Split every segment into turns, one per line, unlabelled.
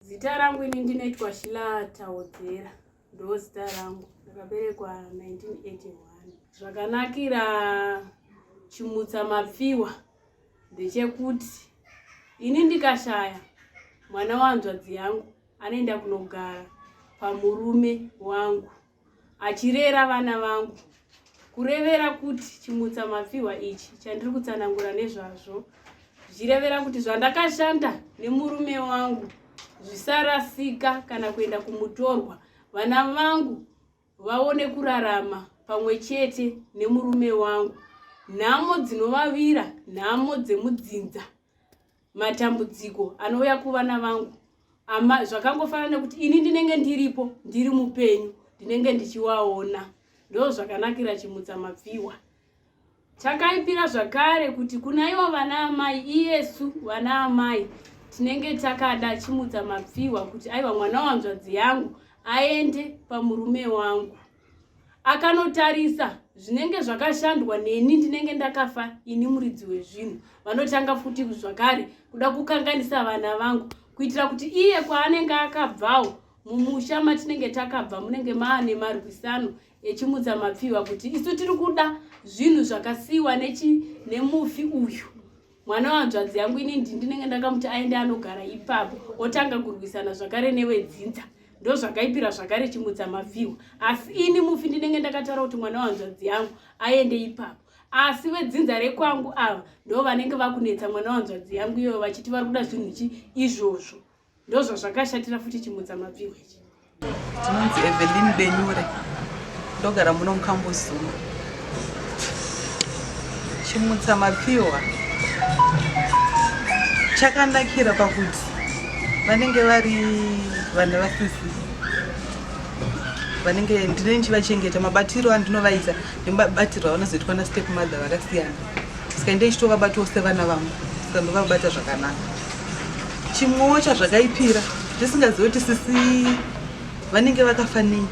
Zita rangu ini ndinoitwa Shila Taudzera, ndoo zita rangu. Ndakaberekwa 1981. Zvakanakira Chimutsa Mapfiwa ndechekuti ini ndikashaya mwana wanzvadzi yangu anoenda kunogara pamurume wangu. achirera vana vangu kurevera kuti chimutsa mapfihwa ichi chandiri kutsanangura nezvazvo zvichirevera kuti zvandakashanda nemurume wangu zvisarasika kana kuenda kumutorwa vana vangu vaone kurarama pamwe chete nemurume wangu nhamo dzinovavira nhamo dzemudzinza matambudziko anouya kuvana vangu ama zvakangofanana nekuti ini ndinenge ndiripo ndiri mupenyu ndinenge ndichiwaona ndo zvakanakira chimutsa mapfiwa takaipira zvakare kuti kuna ivo vana amai iyesu vana amai tinenge takada chimutsa mapfiwa kuti aiva mwana wanzvadzi yangu aende pamurume wangu akanotarisa zvinenge zvakashandwa neni ndinenge ndakafa ini muridzi wezvinhu vanotanga futi zvakare kuda kukanganisa vana vangu kuitira kuti iye kwaanenge akabvawo mumusha matinenge takabva munenge maane marwisano echimutsa mapfihwa kuti isu tiri kuda zvinhu zvakasiyiwa nemufi uyu mwana wehanzvadzi yangu ini ndi ndinenge ndakamuti aende anogara ipapo otanga kurwisana zvakare nevedzinza ndo zvakaipira zvakare chimudza mavhirwa asi ini mufi ndinenge ndakataura kuti mwana wehanzvadzi yangu aende ipapo asi vedzinza rekwangu ava ndo vanenge vakunetsa mwana wehanzvadzi yangu iyoyo vachiti vari kuda zvinhu chi izvozvo ndozvazvakashatira futi chimudza mapfihwa ichi tinonzi
evelin benyure ndogara muno mukambozuma chimutsa mapfihwa chakanakira pakuti vanenge vari vana vasisi vanenge ndine ndichivachengeta mabatiro andinovaita nemabatiro avanozoitwa nastep mother vakasiyana saka ndeichitovabatiwo sevana vangu saka ndovabata zvakanaka chimwewo chazvakaipira tisingazive kuti sisi vanenge vakafanei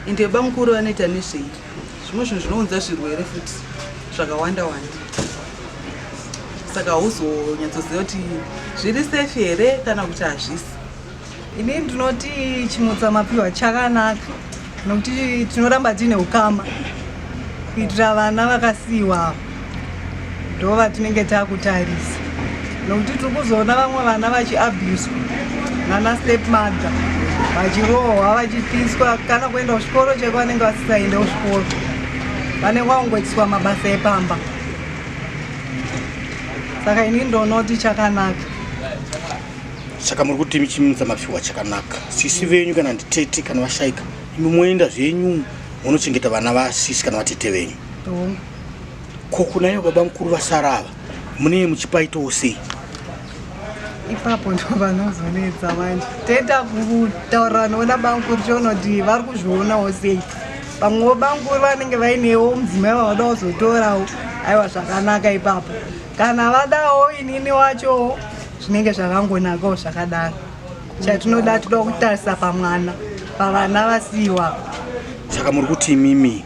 ende vebamukuru vanoita nezvei zvimwe zvinhu zvinounza zvirwere futi zvakawanda wanda saka hauzonyatsoziva kuti zviri safe here kana kuti hazvisi Ini
ndinoti chimutsa mapiwa chakanaka nokuti tinoramba tiine ukama kuitira vana vakasiyiwa avo ndo vatinenge takutarisa nokuti tiri kuzoona vamwe vana vachiabuswa nana step mother vachirohwa vachipiswa kana kuenda kuchikoro cheko vanenge vasisaende kuchikoro vanenge vakungoitiswa mabasa epamba saka ini ndonoti chakanaka
saka muri kuti chimisa mafiwa chakanaka sisi venyu kana nditete kana vashaika imi moenda zvenyu munochengeta vana vasisi kana vatete venyu ko kunayo baba mukuru vasara ava munee muchipaitawo sei
ipapo ndo vanozonetsa manje toita kutaurira noona bamukuru chonoti vari kuzvionawo sei vamwewo bamukuru vanenge vainewo mudzimai vavada kuzotorawo aiwa zvakanaka ipapo kana vadawo inini wachowo zvinenge zvakangonakawo zvakadaro chatinoda toda kutarisa pamwana pavana vasiiwa saka muri
kuti imimi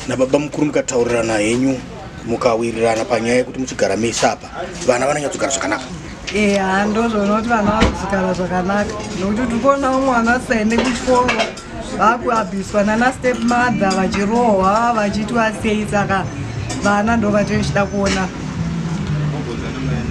nababa mukuru mukataurirana henyu mukawirirana panyaya yekuti muchigara mese apa vana vananyatsogara zvakanaka eya
ndozvoona kuti vana vakuzogara zvakanaka nokuti tiri kuonawo mwana asaende kuchikoro vakuabhiswa nana step mother vachirohwa vachitwa sei saka vana ndo vatochida kuona